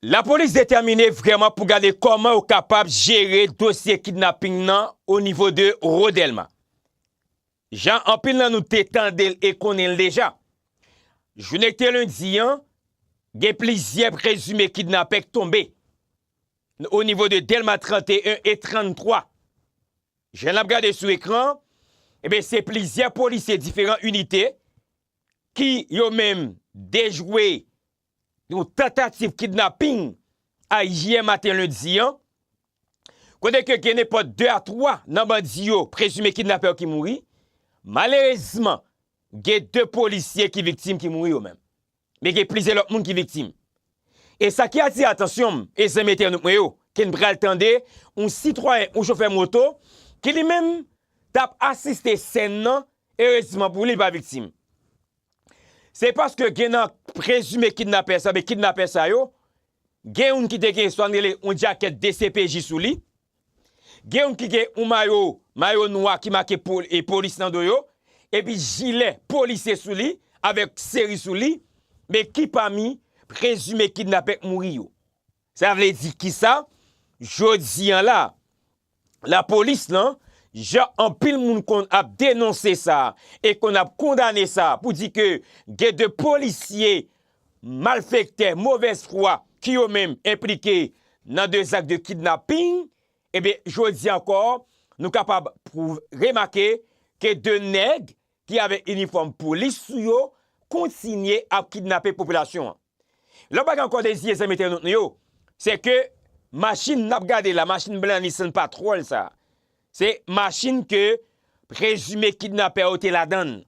Lapolis detèmine vrèman pou gade kòman yo kapab jere dosye kidnaping nan o nivo de Ro Dèlma. Jan anpil nan nou te tande l e konnen l deja, jounen ki te lendi an, gen plizyè prezime kidnapè k tonbe n o nivo de Dèlma 31 e 33. Jan n ap gade sou ekran an, enben se plizyè polisye diferan inite ki yo menm dejwe yon tantativ kidnaping ayè maten lendi an, kote ke gen nenpòt 2 a 3 nan bandi yo prezime kidnapè yo ki mouri, malerezman gen 2 polisye ki viktim ki mouri yo menm, men gen plizyè lòt moun ki viktim. E sa ki atire atansyon m e zanmi entènot mwen yo, ke n pral tande yon sitwayen, yon chofè moto, ki li menm t ap asiste sèn nan, erezman pou li, li pa viktim. Se paske gen nan prezime kidnapè sa oubyen kidnapè sa yo, gen youn ki te gen sa n rele yon djakèt dcpj sou li, gen youn ki gen yon mayo, mayo nwa ki make polis nan do yo, epi jilè polisye sou li, avèk seri sou li, men ki pami prezime kidnapè k mouri yo? Sa vle di kisa? Jodi an la, lapolis lan, jan anpil moun konn ap denonse sa e konn ap kondane sa pou di ke gen de polisye malfektè, movèz fwa ki yo menm enplike nan de zak de kidnaping, ebyen jodi an ankò nou kapab remake ke de nèg ki avèk inifòm polis sou yo kontinye ap kidnape popilasyon an. Lè w pa gen ankò de zye zanmi entènot nou yo, se ke machin n ap gade la, machin blan Nissan Patrol sa, se machin ke prezime kidnapè yo te ladan l.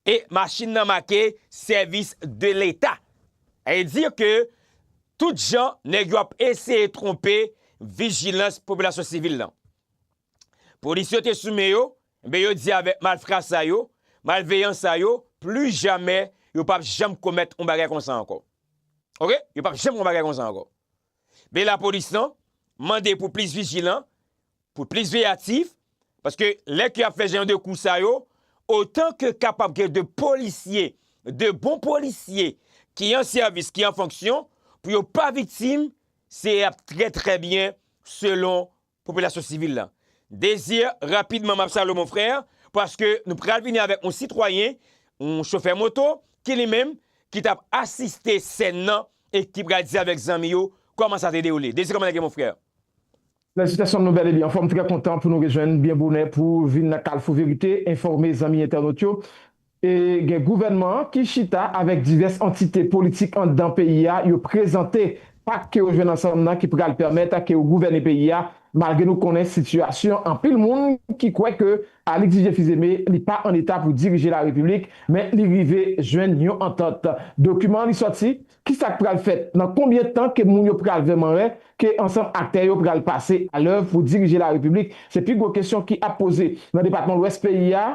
E machin nan make sèvis de leta. A e di ke tout jan nèg yo ap eseye twonpe vijilans popilasyon sivil lan. Polis yo te sou men yo, Enben yo di avèk malfra sa yo, malveyan sa yo, plis jamè yo p ap janm komèt yon bagay konsa ankò. Ok, yo p ap janm yon bagay konsa ankò. Ben lapolis lan mande pou plis vijilan, pou plis veyatif, paske lè ke y ap fè jan de kou sa yo, otan ke kapab gen de polisye, de bon polisye ki an sèvis, ki an fonksyon, pou yo pa viktim, se ap trè trè byen selon Popilasyon sivil lan. Désir, rapidman map salwe mon frère, paske nou pral vini avèk yon sitwayen, yon chofè moto, ki li menm, ki tap asiste sèn nan, e ki pral di avèk zanmi yo, kòman sa te dewoule. Désir kòman nèg yo mon frère? Felisitasyon nou bèl e byen anfòm, trè kontan pou nou rejwenn byen bonè pou vin nan kalfou verite, enfòme zanmi entènot yo. E gen gouvènman an ki chita avèk divès antite politik anndan peyi a, yo prezante pak ke yo jwenn ansanm nan ki pral pèmèt ke yo gouvène peyi a, malgre nou konnen sitiyasyon anpil moun ki kwè ke Alix Didier Fils-Aimé li pa an eta pou dirije la repiblik, men li rive jwenn yon antant. Dokiman li sòti, ki sa k pral fèt? Nan konbyen tan ke moun yo pral vrèman wè ke ansanm aktè yo pral pase alèv pou dirije la repiblik? Se pi gwo kesyon ki ap poze nan depatman lwès peyi a.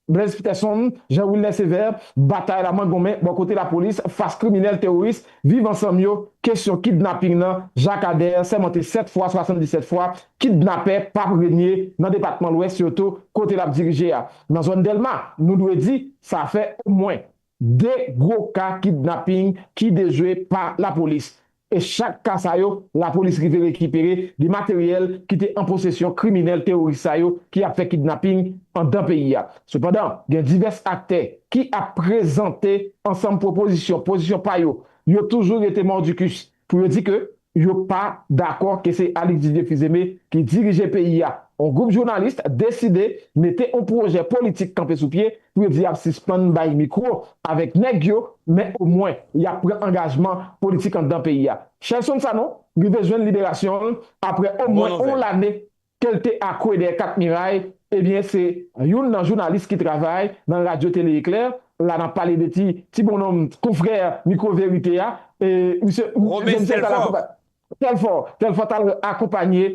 Blaise Peterson, Jean Wilner Sévère, Batay la mangonmen bò kote lapolis fas kriminèl teworis Viv Ansanm yo, kesyon kidnaping nan Jakadèr sèmante 7 fwa 77 fwa, kidnapè p ap renye nan depatman Lwès yo tou kote l ap dirije a. Nan zòn Dèlma, nou dwe di, sa fè omwen. 2 gwo ka kidnapping ki dejwe pa lapolis e chak ka sa yo lapolis rive rekipere de materyèl ki te an posesyon kriminèl teworis sa yo ki ap fè kidnapping andan peyi a. Sepandan, gen divès aktè ki ap prezante ansanm pwopozisyon, pozisyon pa yo, yo toujou rete mordicus. Pou yo di ke yo pa dakò ke se Alix Didier Fils-Aimé ki dirije peyi a. On gwoup jounalis deside mete on pwojè politik kanpe sou pye pou yo di yap sispann bay mikwo avèk nèg yo men omwen yap pran angajman politik andan peyi a. Shelson Sanon rive jwenn liberasyon l aprè omwen on lane ke l te akwe dèyè kat miray, ebyen se youn nan jounalis ki travay nan radyo tele eklèr la nan pale de ti ti bonnonm konfrè mikwo verite a e misye Robens Telfort Telfort Telfort t al akonpanye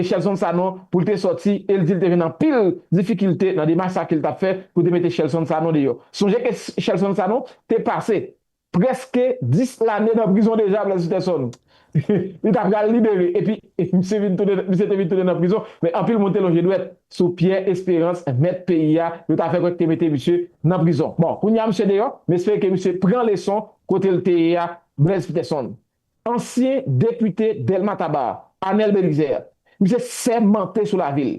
Shelson Sanon pou l te sòti e l di l te jwenn anpil difikilte nan demach sa ke l t ap fè pou te mete Shelson Sanon deyò sonje ke Shelson Sanon te pase Preske 10 lane nan prizon deja Blaise Peterson. Li ta pral libere epi misye vin tounen, misye te vin tounen nan prizon men anpil moun te lonje dwèt sou Pierre Espérance mèt peyi a, yo ta fè kwè ki te mete misye nan prizon. Bon, kounye a misye deyò, m espere ke misye pran leson kote l te ye a Blaise Peterson. Ansyen depite Delma Taba, Anel Belizaire, misye sèmante sou lavi l,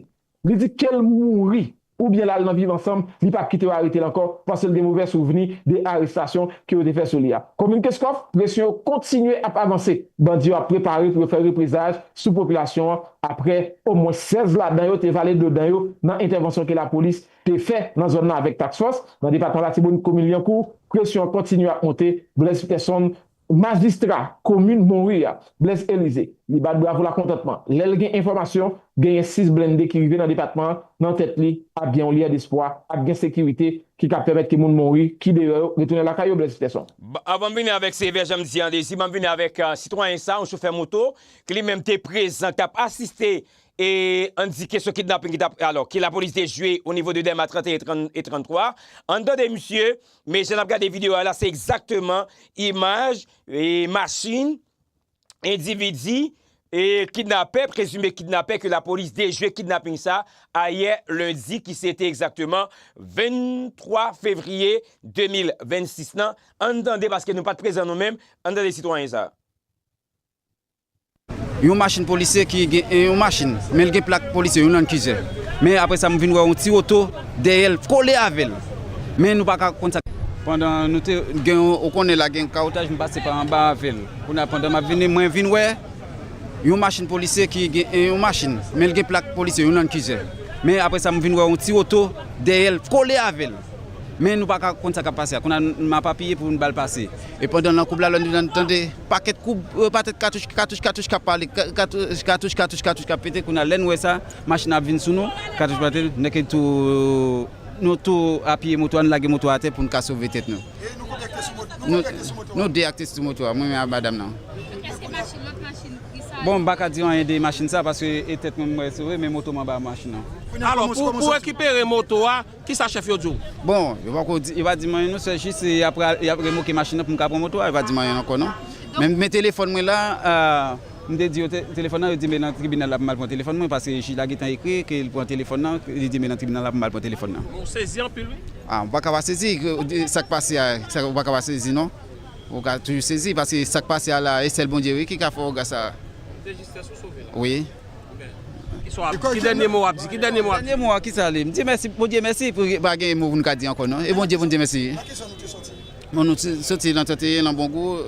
Li di kel mouri oubyen lal nan viv ansanm li pap kite yo aretel ankò pasel gen movè souvni de arestasyon ke yo te fè sou li a. Komin Kenscoff, presyon yo kontinye ap avanse, bandi yo ap prepare pou yo fè reprezaj sou popilasyon an aprè omwen 16 ladan yo te vale dlo dan yo nan entèvansyon ke lapolis te fè nan zòn nan avèk task fòs nan depatman Latibonit komin Lyankou, presyon an kontinye ap monte, Blaise Peterson. Majistra komin Monri a, Blaise Elysée, li bat bravo lakontantman lè l gen enfòmasyon genyen 6 blende ki rive nan depatman an nan tèt li ap gen yon lyè despwa, ap gen sekirite ki kab pèmèt ke moun Monri ki deyò yo retounen lakay yo, Blaise Peterson. Anvan m vini avèk sevè jan m di an dezi, banm vini avèk sitwayen sa, yon chofè moto ki li menm te prezan k tap asiste e an di kesyon kidnaping ki tap alò ke lapolis te jwe onivo de dèma 31 e 33. Ann tande misye Men jan nap gade video a la se egzakteman imaj machin endividi kidnapè, prezime kidnapè ke lapolis dejwe kidnaping sa ayè lendi ki se te egzakteman 23 fevriye 2026 lan. Ann tande paske nou pat prezan nou menm, ann tande sitwayen sa. Yon machin polisye ki gen yon machin men l gen plak polisye, yon landkizè. Men apre sa m vin wè yon ti oto dèyè l kole avè l. Men nou pa ka konn sa. Pandan nou te gen yon, ou konnen la gen kawotaj m pase pa anba avè l. Kounye a pandan m ap vini mwen vin wè yon machin polisye ki gen yon machin men l gen plak polisye, yon landkizè. Men apre sa m vin wè yon ti oto dèyè l kole avè l. Men nou pa ka konn sa k ap pase a. Kounye a m ap apiye pou yon bal pase. E pandan nan koub la lòn nou tande. Pakèt koub, patèt katouch, katouch, katouch k ap pale, katouch, katouch, katouch, katouch k ap pete. Kounye a, lè n wè sa, machin nan ap vin sou nou, katouch ap pete, n eke tou, nou tou apiye moto a, nou lage moto a atè pou n ka sove tèt nou. E nou konbyen k te sou moto a? Nou konbyen k te sou moto a? Nou de ak te sou moto a, mwen menm ak madam nan. Epi èske machin, lòt machin pri sa yo? Bon, m pa ka di anyen de machin sa a paske e tèt mwen mwen sove men moto m anba machin nan. Alò, pou rekipere moto a, Kisa chèf yo di w? Bon, yo pako di, yo pa di m anyen non, sè jis se y ap pral, y ap remoke machin nan pou m ka pran moto a, yo pa di m anyen ankò non. Men, men telefòn mwen la, m te di yo telefòn nan, yo di m e nan tribinal la pou m al pran telefòn mwen paske jij la gentan ekri ke l pran telefòn nan, li di m e nan tribinal la pou m al pran telefòn nan. Bon, ou sezi anpil wi. A, ou pa ka pa sezi, sa k pase a, ou pa ka pa sezi non. Ou ka toujou sezi paske sa k pase a la, e sèl Bondye wi ki ka fè oga sa a. Ou te jis fè sa w sove la. Wi. Ki dènye mo wap di? Ki dènye mo wap di? Dènye mo a kisa li? M di mèsi Bondye mèsi pou pa gen mo pou nou ka di ankò non. E Bondye pou n di mèsi. Nan ki zòn ou te soti? Bon nou te soti nan 31 nan Bongou,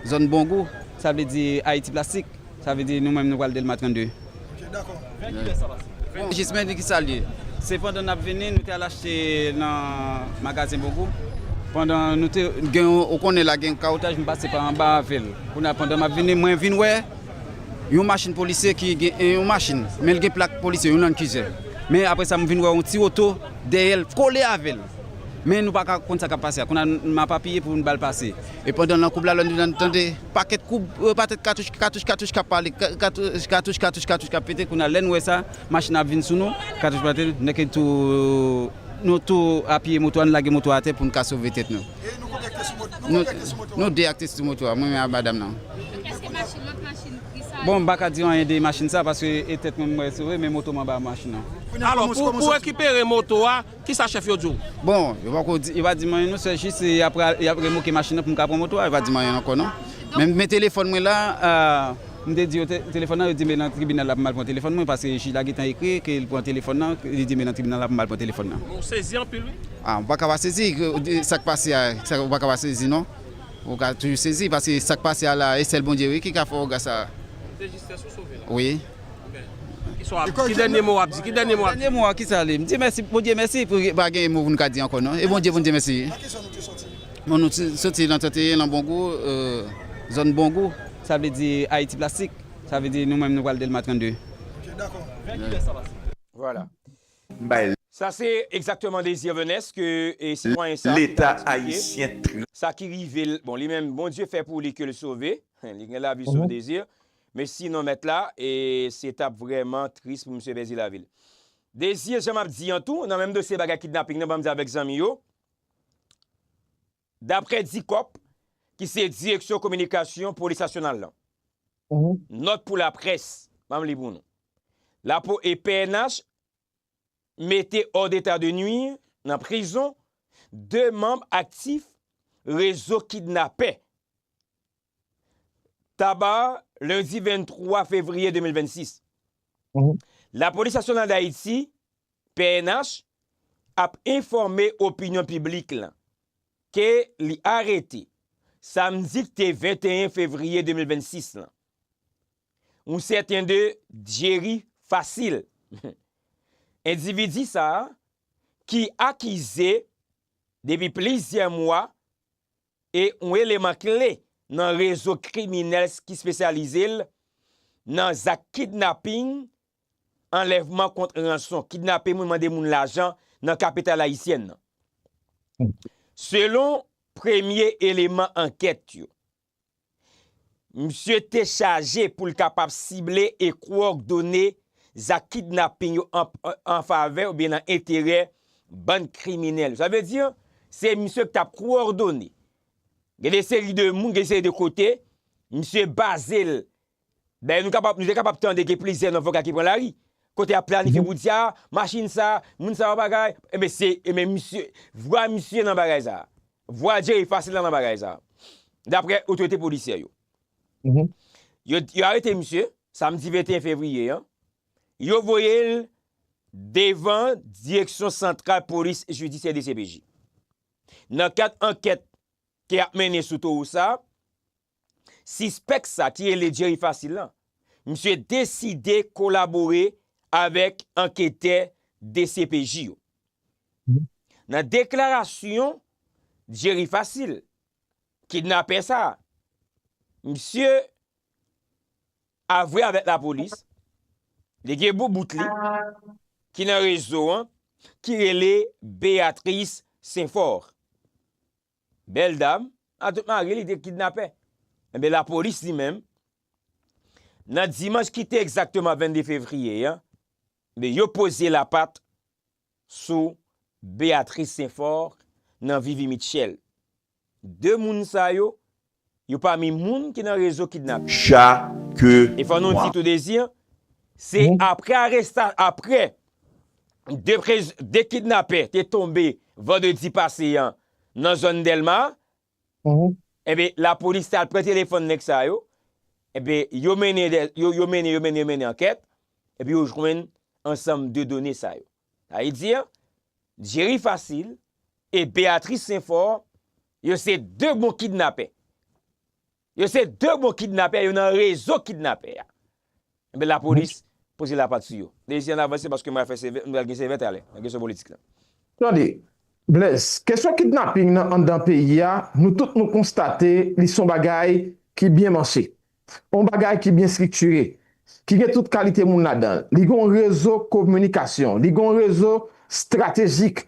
zòn Bongou. Sa vle di Ayiti plastik. Sa vle di nou menm nou pral Dèlma 32. Ok dakò. Vè ki lè sa pase? Vè ki jismen li kisa li ye? Se pandan n ap vini nou te al achte nan magazen Bongou. Pandan nou te gen ou konnen la gen kawotaj m pase pa anba avè l. Kounye a pandan m ap vini mwen vin wè. Yon machin polisye ki gen yon machin men li gen plak polisye yon land cruiser men aprè sa m vin wè yon ti oto dèyè l kole avè l men nou pa ka konn sa k ap pase a kounye a m ap apiye pou m ba l pase e pandan nan koub la lè nou tande pakèt koub pakèt katouch katouch katouch k ap pale katouch katouch katouch katouch k ap pete kounye a lè n wè sa machin nan ap vin sou nou katouch pete nou tou apiye moto a nou lage moto a atè pou n ka sove tèt nou. Nou 2 ak testi moto a, mwen menm ak madam nan. Bon m paka diw anyen de machin sa paske e tèt mwen m wè sove men moto m anba machin nan. Alò pou rekipere moto a kisa chèf yo diw? Bon yo pako di, yo pa dim anyen non sè jis se yap remoke machin nan pou m ka pran moto a yo pa dim anyen ankò non. Men telefòn mwen la. M te di yo telefòn nan, yo di m e nan tribinal la pou m al pran telefòn mwen paske jij la gentan ekri ke l pran telefòn nan, li di m e nan tribinal la pou m al pran telefòn nan. Ou sezi anpil wi. A, ou pa ka pa sezi, sa k pase a, ou pa ka pa sezi non. Ou ka toujou sezi paske sa k pase a la a, e sèl Bondye wi ki ka fè w wè sa a. Se jistès ou sove la. Wi. Ki dènye mo w ap di? Ki dènye mo w ap di? Dènye mo a ki sa li? M di mèsi, Bondye mèsi pou pa gen mo pou n ka di ankò non. E Bondye pou n di mèsi wi. Nan ki zòn ou te soti? Bon nou te soti nan 31 nan Bongou, zòn Bongou. Sa vle di Ayiti plastik. Sa vle di nou menm nou pral Delma 32. Ok dako. Vè kilè sa pase? Voilà. M bay. Sa se egzakteman Désir Venès ke sitwayen sa ki ta eksplike sa ki rive l, bon li menm Bondye fè pou li ke l sove, li gen lavi sof Désir, men sinon mèt la e se t ap vrèman tris pou misye pèdi lavi l. Désir jan m ap di an tou nan menm dosye bagay kidnaping nan ban m di avèk zanmi yo, Daprè Dicop, ki se direksyon kominikasyon polis nasyonal lan, nòt pou laprès, banm li pou nou, lapo e pnh mete hors d'état de nuire nan prizon 2 manm aktif rezo kidnapè Taba, lendi 23 fevriye 2026. Lapolis Nasyonal Dayiti, pnh, ap enfòme opinyon piblik lan ke li arete, samdi k te 21 fevriye 2026 lan, yon sèten de Jerry Facile. Endividi sa a, ki akize depi plizyè mwa e yon eleman kle nan rezo kriminèl ki spesyalize l nan zak kidnaping, anlèvman kont ranson, kidnape moun, mande moun lajan nan kapital ayisyèn nan. Selon premye eleman ankèt yo, Misye te chaje pou l kapab sible e kowòdone zak kidnaping yo an favè oubyen nan enterè bann kriminèl yo. Sa vle di, se misye ki t ap kowòdone. Gen de seri de moun, gen de seri de kote, misye baze l Dayè nou kapab, nou te kapab tande gen plizyè nan voka ki pran lari, kote yap planifye wout sa, machin sa, moun sa wap bagay, enben se, enben misye, vwa misye nan bagay sa. Vwa Jerry Facile la nan bagay sa. Daprè otorite polisyè yo. Yo, yo arete misye, samdi 21 fevriye an, yo voye l devan direksyon santral polis jidisyè dcpj. Nan kad ankèt ke yap mennen sou towo sa, Sispèk sa ki rele Jerry Facile lan, misye deside kolabore avèk anketè dcpj yo. Nan deklarasyon Jerry Facile, kidnapè sa, misye avwe avèk lapolis, li gen boubout li ki nan rezo an ki rele Béatrice Saint-Fort. Bèl dam, atout mari li te kidnapè. Enben lapolis li menm, nan dimanch ki te egzakteman 22 fevriye an, enben yo poze lapat sou Béatrice Saint-Fort nan Vivi Mitchell. 2 moun sa yo Yo pami moun ki nan rezo kidnapin. Chake mwa. E fò nou di tou Désir, se aprè aresta, aprè 2 prez, 2 kidnapè te tonbe vandredi pase an nan zòn Dèlma, enben lapolis te al pran telefòn nèg sa yo, enben yo mennen, yo mennen, yo mennen, yo mennen ankèt, epi yo jwenn ansanm de done sa yo. Sa vle di, Jerry Facile e Béatrice Sainfort, yo se 2 bon kidnapè. Yo se 2 bon kidnapè, yo nan rezo kidnapè a. Enben lapolis poze lapat sou yo. Mesye ann avanse paske m pral fè sevè, m pral gen sevè talè nan kesyon politik lan. Tande, Blèz, kesyon kidnaping nan anndan peyi a, nou tout nou konstate li s on bagay ki byen manche. Yon bagay ki byen striktire, ki gen tout kalite moun ladan l. Li gen yon rezo kominikasyon, li gen yon rezo estratejik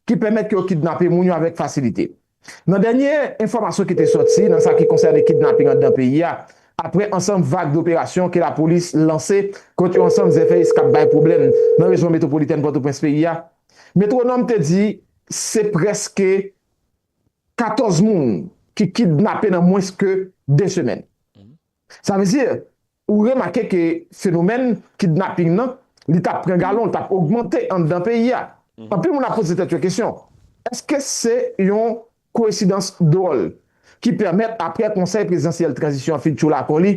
ki pèmèt ke yo kidnape moun yo avèk fasilite. Nan dènye enfòmasyon ki te sòti nan sa ki konsène kidnaping anndan peyi a, aprè ansanm vag doperasyon ke lapolis lanse kont yon ansanm zèfèyis k ap bay pwoblèm nan rejyon metwopolitèn Pòtoprens peyi a, Metwonòm te di se prèske. 14 moun ki kidnape nan mwens ke 2 semèn. Sa vle di, ou remake ke fenomèn kidnaping nan, li tap pran galon, li tap ogmante anndan peyi a. Anpil moun ap poze tèt yo kesyon, eske se yon koesidans dwòl ki pèmèt apre konsèy prezidansyèl tranzisyon an fin tchoul akò li,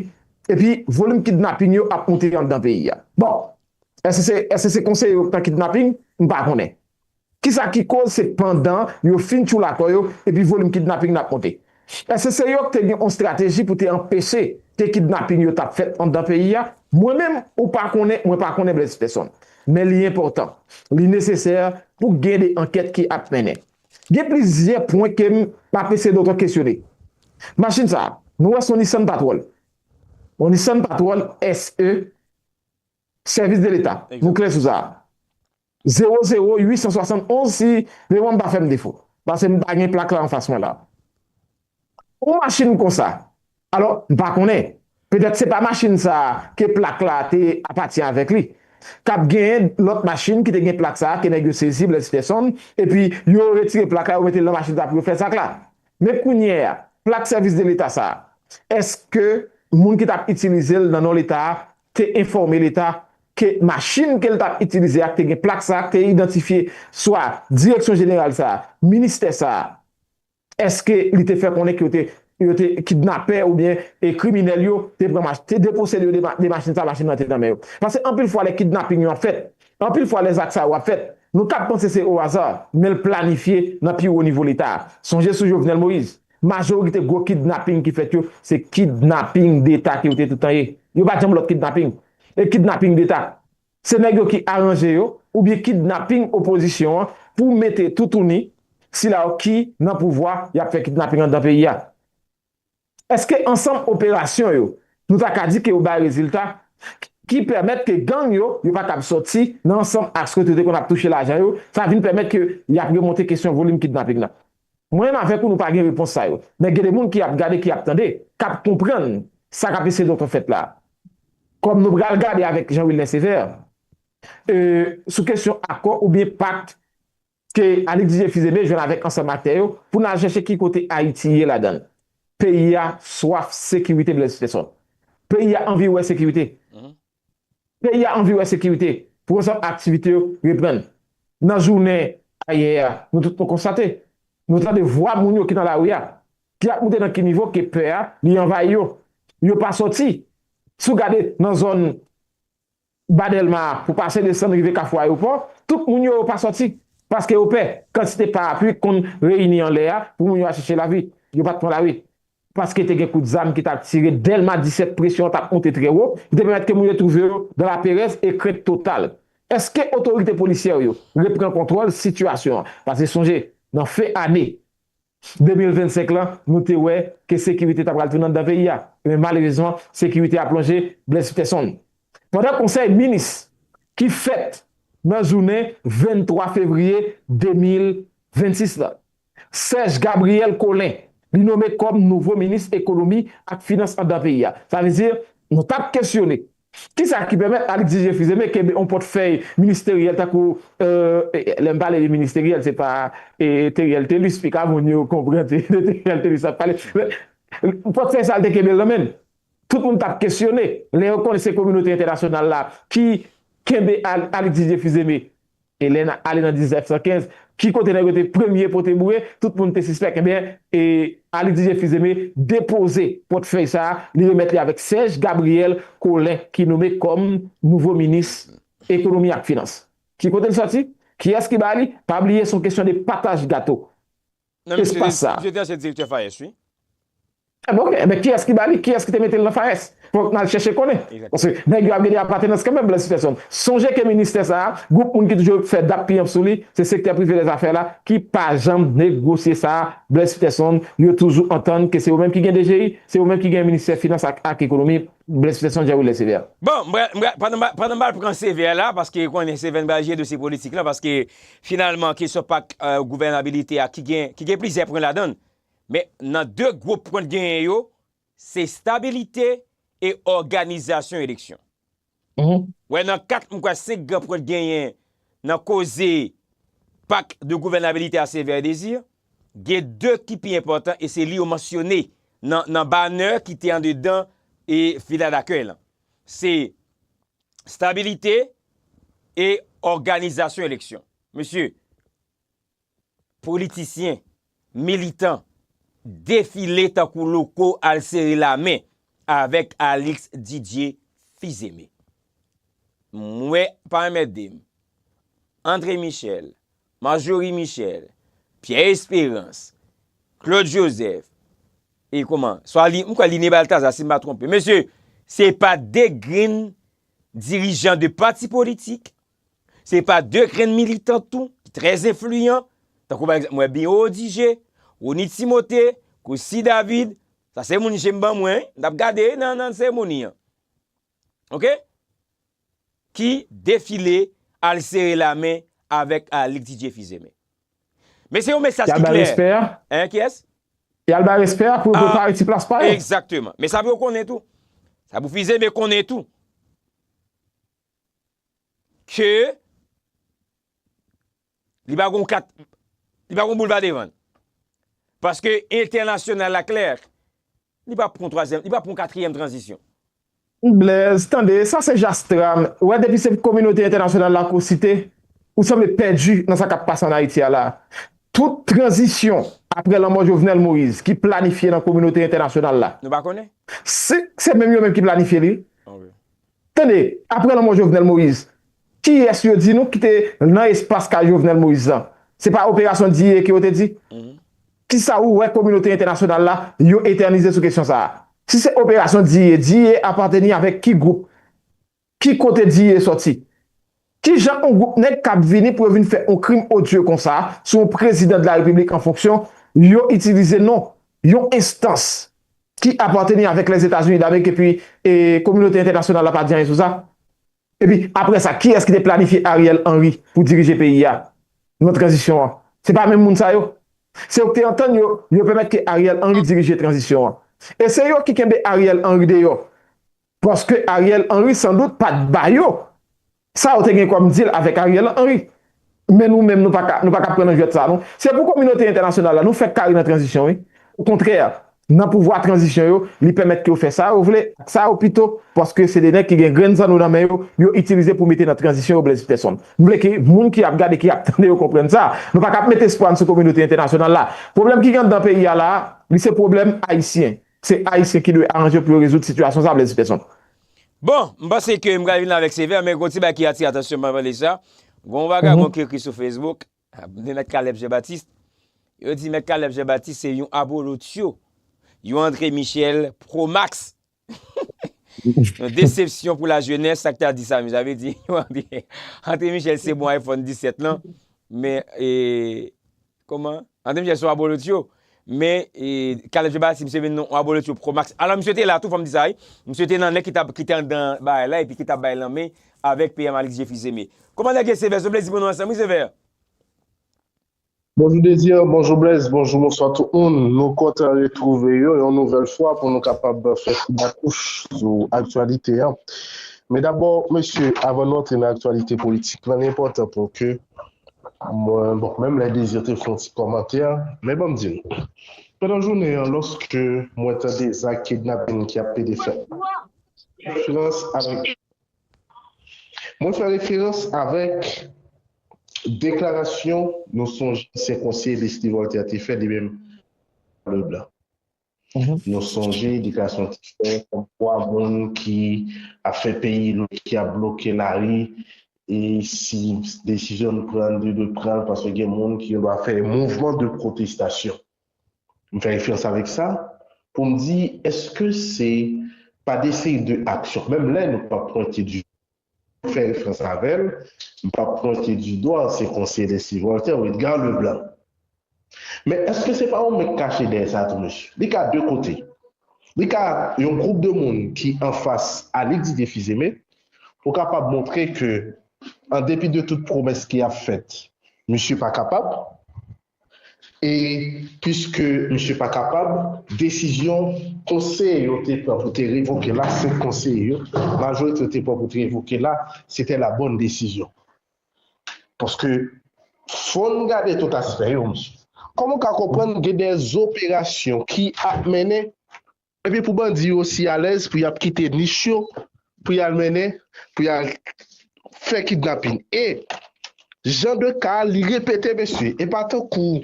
epi volim kidnaping yo ap moute anndan peyi a? Bon, eske se konseye yo k nan kidnaping? M pa konnen. Kisa ki koz se pandan yo fin tchoul atò yo epi volim kidnaping nan ap monte? Eske se yo k te gen on strateji pou te anpeche ke kidnaping yo tap fèt andan peyi a? Mwen menm ou pa konnen mwen pa konnen Blaise Peson. Men li enpòtan, li nesesè pou k gen de ankèt ki ap mennen. Gen plizyè pwen ke m ap eseye doto kesyone. Machin sa, nou wè son Nissan Patrol. On Nissan Patrol SE. Sèvis de leta. Nou klè sou sa a. Zewo zewo uit san swasann onz si memwa m pa fè m defo. Pase m pa gen plak la anfas mwen la. On machin konsa. Alò, m pa konnen. Petèt se pa machin sa a ke plak la te apati avèk li. Kab genyen lòt machin ki te gen plak sa a ke nèg yo sezi Blaise Pierson epi yo retire plak la yo mete l nan machin sa a pou yo fè zak la. Men kounye a, plak sèvis de leta sa a, èske moun ki t ap itilize l nan non leta a te enfòme leta ke machin ke l t ap itilize a te gen plak sa a k te idantifye swa direksyon jeneral sa a, ministè sa a. Eske li te fè konnen ke yo te kidnapè oubyen kriminèl yo te pran machin, te deposede yo de machin sa a, machin nan te nan men yo? Paske anpil fwa lè kidnaping yo ap fèt, anpil fwa lè zak sa yo ap fèt, nou ka panse se o hasard, men l planifye nan pi wo nivo leta a. Sonje sou Jovenel Moïse, Majorite gwo kidnaping ki fèt yo, se kidnaping deta ki yo te toutan ye. Yo pa janm lòt kidnaping. E kidnaping deta, se nèg yo ki aranje yo, oubyen kidnaping opozisyon an pou mete toutouni sila yo ki nan pouvwa y ap fè kidnaping anndan peyi a. Èske ansanm operasyon yo, nou ta ka di ke yo bay rezilta ki pèmèt ke gang yo, yo pa kab sòti nan ansanm aks kote yo te konn ap touche lajan yo, sa vin pèmèt ke y ap remonte kesyon volim kidnaping nan? Mwen menm avèk ou nou pa gen repons sa yo. Men gen de moun ki ap gade, ki ap tande, k ap konprann sa k ap eseye doktè fèt la. Kòm nou pral gade avèk Jean Wilner Sévère e sou kesyon akò oubyen pak ke Alix Didier Fils-Aimé jwenn avèk ansanm aktè yo pou n al chèche ki kote Ayiti ye ladan l. Peyi a swaf sekirite Blaise Peterson. Peyi a anvi wè sekirite. Peyi a anvi wè sekirite pou ansanm aktivite yo reprann. Nan jounen ayè a, nou tout nou konstate, nou tande vwa moun yo ki nan lari a, ki ap moute nan ki nivo ke pè a li anvayi yo. Yo pa sòti. Si w gade nan zòn Ba Dèlma a, pou pase desann rive Kafou Ayewopò, tout moun yo yo pa sòti paske yo pè. Kantite parapli ki konn reyini anlè a pou moun yo al chèche lavi, yo pa t pran lari. paske te gen kout zam ki t ap tire Dèlma 17 presyon an t ap monte trè wo ki te pèmèt ke moun yo twouve yo dan laperèz e krent total. Eske otorite polisyè yo repran kontwòl sitiyasyon an? Pase sonje nan fen ane 2025 lan nou te wè ke sekirite ta pral tounen anndan peyi a men malerezman sekirite a plonje Blaise Peterson pandan konsèy minis ki fèt nan jounen 23 fevriye 2026 la. Serge Gabriel Collin li nome kòm nouvo minis ekonomi ak finans andan peyi a. Sa vle di, nou t ap kesyone, ki sa ki pèmèt Alix Didier Fils-Aimé kenbe yon pòtfèy ministeryèl tankou, lè m pale de ministeryèl se pa Theriel Thelus, pi ka moun yo konprann se de Theriel Thelus m ap pale, men, pòtfèy sa l te kenbe l nan men l. Tout moun t ap kesyone, lè yo konnen se kominote entènasyonal la ki kenbe Alix Didier Fils-Aimé Elena ale nan 1915, ki kote nèg yo te premye pote boure, tout moun te sispèk. Enben, Aly Didier Fils-Aimé depoze pòtfèy sa a, li remèt li avèk Serge Gabriel Collin ki nome kòm nouvo minis Ekonomi ak Finans. Ki kote li sòti? Kiyès ki ba li? Pa bliye, s on kesyon de pataj gato. Espas sa. Misye te ansyen direktè FAES wi. Trè bon men kiyès ki ba li, kiyès ki te mete l nan FAES? Fòk n al chèche konnen. Paske nèg yo ap gade apatenans kanmenm Blaise Peterson. Sonje ke ministè sa a, gwoup moun ki toujou ap fè dappiyanp sou li, se sektè prive lèzafè la ki pa janm negwosye sa a, Blaise Peterson, yo toujou antann ke se yo menm ki gen DGI, se yo menm ki gen ministè finans ak ekonomi, Blaise Peterson, Jean Wilner Sévère. Bon, m pral, m pral, pandan m al pran Sévère la, paske konnen Sévère n pral jere dosye politik lan, paske Finalman, kesyon pak gouvènabilite a ki gen plizyè pwen ladan l, men nan 2 gwo pwen l genyen yo, se stabilite e òganizasyon eleksyon. Wè nan 4 m kwè 5 gran pwen l genyen nan koze pak de gouvènabilite a Sévère Désir, gen 2 ki pi enpòtan e se li yo mansyone nan banner ki te andedan vila dakèy lan. Se Stabilite e òganizasyon eleksyon. Mesye, politisyen, militan, defile tankou loko al sere lamen avèk Alix Didier Fils-Aimé. M wè pa anmède m. André Michel, Marjorie Michel, Pierre Esperance, Claude Joseph, e kouman, swa li, m kwè li Ne Balthazar si m pa twonpe. Mesye, se pa 2 grenn dirijan de pati politik, se pa 2 grenn militan tou, ki trè enfliyan, tankou pa egzanp, m wè Biro Odigé, Rony Timothé, Christie David, sa se moun je m ban mwen, m t ap gade nan seremoni an. ok ki defile al sere la men avek Alix Didier Fils Aimé men se yon mesaj ki klè hein kiyes? yal bay respè a pou yo prepare ti plas pa yo exactement men sa pou yo konnen tou sa pou Fils Aimé konnen tou ke Li pa gon kat, li pa gon boulva devan l. Paske entènasyonal la klè, li pap pran twazyèm, li pap pran katriyèm tranzisyon. Blaise, tande, sa se jastram, ou wè depi se kominote entènasyonal la ke w site, ou sanble pèdi nan sa kap pase an Ayiti a la. Tout tranzisyon aprè lanmò Jovenel Moïse ki planifye nan kominote entènasyonal la. Nou pa konnen? Se menm yo menm ki planifye li. Tande, aprè lanmò Jovenel Moïse, kiyès yo di nou ki te nan espas kay Jovenel Moïse lan? Se pa operasyon diye ke yo te di? Kisa ou wè kominote entènasyonal la yo etènize sou kesyon sa a? Si se operasyon diye, diye apateni avèk ki gwoup? Ki kote diye sòti? Ki jan yon gwoup nèg kab vini pou yo vin fè yon krim odye konsa sou yon prezidan de la repiblik an fonksyon, yo itilize non yon enstans ki apateni avèk Lèzetazini Damerik epi kominote entènasyonal la pa di anyen sou sa? Epi aprè sa, kiyès ki te planifye Ariel Henry pou dirije peyi a nan tranzisyon an? Se pa menm moun sa yo? Se yo ki te antann yo, yo pèmèt ke Ariel Henry dirije tranzisyon an. E se yo ki kenbe Ariel Henry deyò Paske Ariel Henry san dout pat ba yo sa yo te gen kòm deal avèk Ariel Henry. Men nou menm nou pa ka nou pa ka pran nan jwèt sa non. Se pou kominote entènasyonal la nou fèk kare nan tranzisyon wi. Okontrè nan pouvwa tranzisyon yo li pèmèt ke yo fè sa yo vle ak sa yo pito paske se de nèg ki gen grenn zanno nan men yo, yo itilize pou mete nan tranzisyon yo Blaise Pèsonn. M vle ke moun ki ap gade ki ap tande yo konprann sa. Nou pa ka ap mete espwa n sou kominote entènasyonal la. Pwoblèm ki gen anndan peyi a la a li se pwoblèm ayisyen. Se ayisyen ki dwe aranje pou yo rezoud sitiyasyon sa Blaise Petion. Bon, m panse ke m pral vin avèk sevè, men gon ti bagay ki atire atansyon m pandan lèsa, gon vagabon ki ekri sou Facebook, de Mèt Caleb Jean Baptiste, yo di Mèt Caleb Jean Baptiste se yon abolotcho, yon André Michel pro max, yon desepsyon pou lajenès, sa k ta di sa menm, sa vle di, André Michel se bon iPhone 17 lan, men e. Koman André Michel se yon abolotyo, men Caleb Jean-Baptiste se vin yon abolotyo pro max. Alò misye te la tou fòm di sa wi. Misye te nan nèg ki te andan bagay la epi ki tap bay lanmen avèk PM Alix Jefizeme. Komandè Guy Sévère se yon plezi pou nou ansanm wi Sévère. Bonjou Désir, bonjou Blaise, bonjou bonswa tout moun. Nou kontan retwouve yo yon nouvèl fwa pou nou kapab fè ti bakouch sou aktyalite an. Men dabò mesye avan nou antre nan aktyalite politik lan li enpòtan pou ke Mwen bon, menm lè Désir te fè yon ti kòmantè, men ban m di nou, pandan jounen an lòske mwen tande zak kidnapin ki ap plede fèt, referans avèk, mwen fè referans avèk deklarasyon nou sonje ansyen konseye Leslie Voltaire te fè li menm Leblanc. Nou sonje edikasyon te fè konpwa moun ki ap fè peyi lòt ki ap bloke lari e si desizyon n pran li dwe pran l paske gen moun ki gen dwa fè mouvman de pwotestasyon. M fè referans avèk sa pou m di èske se pa de seri de aksyon menm lè nou pa pwente di fè referans avèl m pap pwente du doigt se konseye de si Voltaire ou Edgar le blanc men eske se pa ou menm k kache dèyè sa tou mesye li ka de kote li ka yon group de moun ki anfas Alix Didier Fils-Aimé ou kapab montre ke an depi de tout pwomès ki ap fèt misye pa kapab. E piske misye pa kapab, desizyon konseye yo te pran pou te revoke l la, 5 konseye yo, majorite yo te pran pou te revoke l la, se tè la bòn desizyon. Paske fò n gade tout aspè yo, misye. Kòman w ka konprann gen dè zoperasyon ki ap mennen Epi pou bandi yo si alèz pou yap kite nich yo pou yal mennen pou yal fè kidnapin e Jan de ka li repete mesye e pa tankou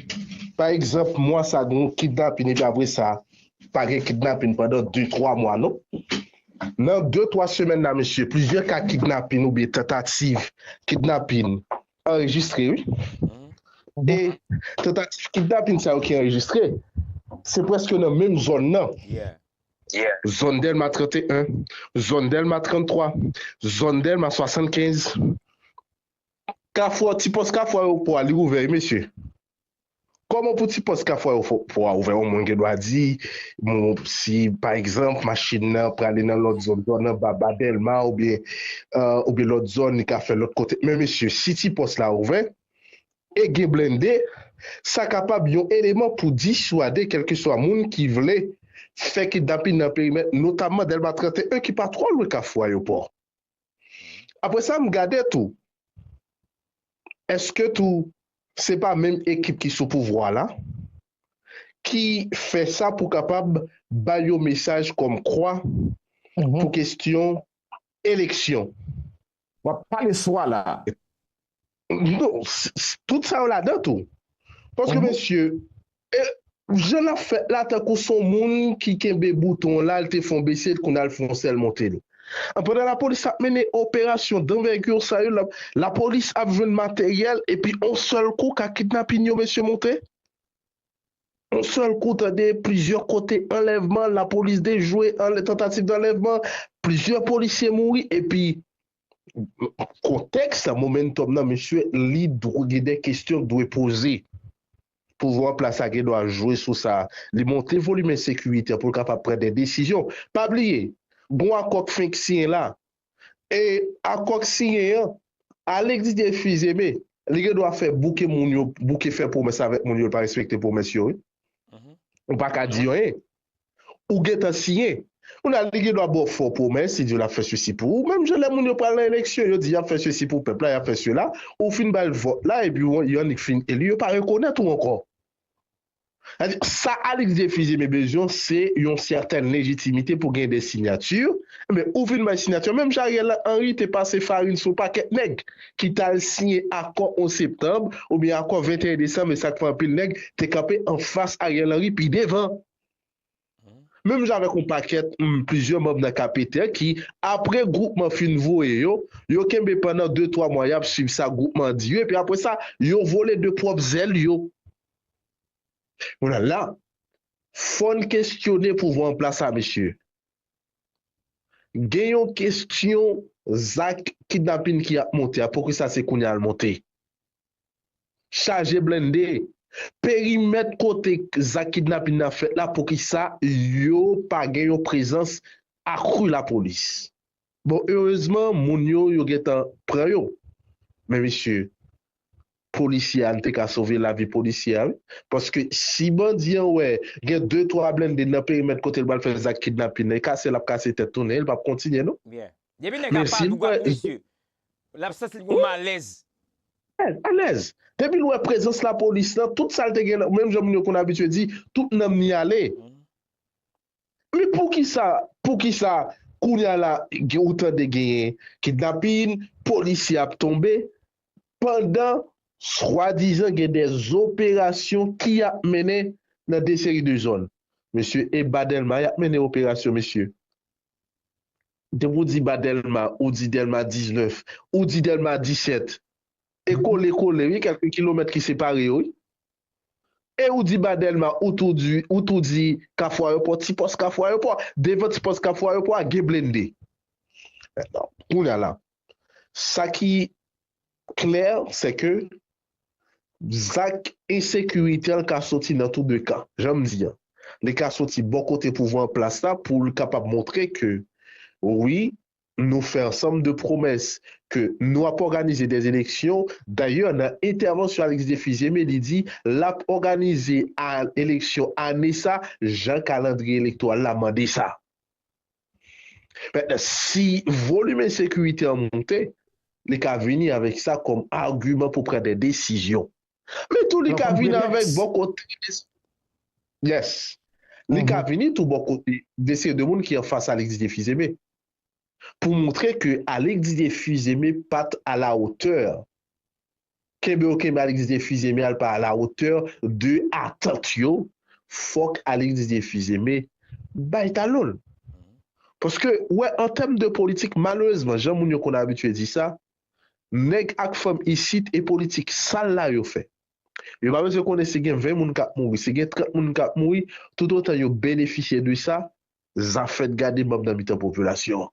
pa egzanp mwa sa gen yon kidnapin epi apre sa pa gen kidnapin pandan 2 3 mwa non nan 2 3 semèn la mesye plizyè ka kidnapin oubyen tantativ kidnapin Anrejistre wi. E tantativ kidnapin sa yo ki anrejistre, se prèske nan menm zòn nan. Zòn Dèlma 31, zòn Dèlma 33, zòn Dèlma 75. Kafou a, ti pòs kafou ayewopò a li ouvè wi mesye. Kòman pou ti pòs ka fwa yo fwa ouvè yon moun gen dwa di moun si pa egzanp machin nan prale nan lòt zòn zòn anba ba dèlma oubyen oubyen lòt zòn li ka fè lòt kote men mesye si ti pòs la ouvè e gen blende sa kapab yon eleman pou diswade kèlkeswa moun ki vle fè kidnapin nan perimèt notamman dèlma 31 ki pa twò lwen kafou ayopò. Apre sa m gade tou, èske tou se pa menm ekip ki sou pouvwa la ki fè sa pou kapab bay yon mesaj kòmkwa pou kestyon eleksyon. Wap pale swa la. Non, tout sa yo ladan tou. Paske mesye, jan lap fèt la tankou son moun ki kenbe bouton la, li te fon bese l kounye a li fon sèl monte l. Pandan lapolis ap mennen operasyon danvègi sa yo, lapolis ap jwenn materyèl epi on sèl kou ka kidnapin yo mesye monte. On sèl kou tande plizyè kote anlèvman, lapolis dejwe, tentative d'enlèvement, plizyè polisye mouri epi Kontèks la, momentum nan mesye, li dwe gen de kestyon k dwe poze. Pouvwa an plas la gen dwa jwe sou sa. Li monte volim ensekirite an pou l kapab pran de desizyon. Pa bliye, gon akò k fenk siyen la. E akò k siyen an, Alexis Desfils-Aimé, li gen dwa fè bouke moun yo, bouke fè pwomès avèk moun yo l pa respekte pwomès yo wi. Ou pa ka di anyen. Ou gentan siyen. Kounye-a, li gendwa ba w fo pwomès, li di w l ap fè sesi pou ou. Menm jan lè moun yo pral nan eleksyon, yo di y ap fè sesi pou pèp la, y ap fè sela, ou fin ba l vòt la epi w yon annik fin eli, yo pa rekonèt ou ankò. Sa di, sa Alix Defizye me bezyon, se yon sètèn lejitimite pou gen de sinyati. Enben, ou fin bay sinyati. Menm jan Ariel Henry te pase farin sou pakèt nèg. ki t al siyen akò 11 septanb oubyen akò 21 desanm e sa k fè anpil nèg te kanpe anfas Ariel Henry pi devan. Menm jan avèk yon pakèt m plizyè manm nan KPTER ki, apre gwoupman fin voye yo, yo kenbe pandan 2 twa mwa y ap swiv sa gwoupman an di yo epi apre sa yo vole de pwòp zèl yo. Kounye a la, fò n kesyone pouvwa anplas la mesye. Gen yon kestyon zak kidnapin ki ap monte a, poukisa se kounye a l monte? Chaje blende, perimèt kote zak kidnapin nan ap fèt la poukisa yo pa gen yon prezans akru lapolis? Bon erezman moun yo yo gentan pran yo men mesye polisye a nou te ka sove lavi polisye a wi paske si bandi an wè gen de twa blende nan perimèt kote l pral fè zak kidnapin nan e kase l ap kase tèt tounen l pap kontinye non men si l wè l ap santi l gen yon malèz. Alèz depi l wè prezans lapolis lan tout sa l te gen nan menm jan moun yo konn abitye di tout nanm ni ale. Men poukisa poukisa kounya la ou tande genyen kidnapin, polisye ap tonbe pandan swadizan gen de operasyon ki ap mennen nan de seri de zòn. Mesye e ba Dèlma yap mennen operasyon mesye. Depi ou di ba Dèlma ou di Dèlma 19, ou di Dèlma 17. E kole kole wi kèlke kilomèt ki separe yo wi. E ou di ba Dèlma ou tou di ou tou di kafou ayopò ti pòs kafou ayopò a devan ti pòs kafou ayopò a gen blende kounya la sa ki klè se ke zak ensekirite an ka soti nan tou de kan jan m di an li ka soti bò kote pouvwa an plas la pou l kapab montre ke wi Nou fè ansanm de pwomès ke nou ap òganize dè eleksyon, dayè nan entèvansyon Alix Défis-Aimé li di lap òganize a eleksyon ane sa jan kalandriye elektoral la mande sa. Mentnan si volim ensekirite an moute, li ka vini avèk sa kòm agiman pou pran dè desizyon. Men tou li ka vini avèk bò kote mesye yes li ka vini tou bò kote mesye de moun ki anfas Alix Didier Fils-Aimé pou moutre ke Alix Didier Fils-Aimé pat a la otè kenbe yo kenbe Alix Didier Fils-Aimé al pa a la otè de atant yo fòk Alix Didier Fils-Aimé bay talon l paske wè an tèm de politik malerezman jan moun yo konn abitye di sa. Nèg ak fanm isit e politik sal la yo fè. Yo pa bezwen konnen si gen 20 moun kap mouri, si gen 30 moun kap mouri, tout otan yo benefisye de sa, zafèt gade banm nan mitan popilasyon an.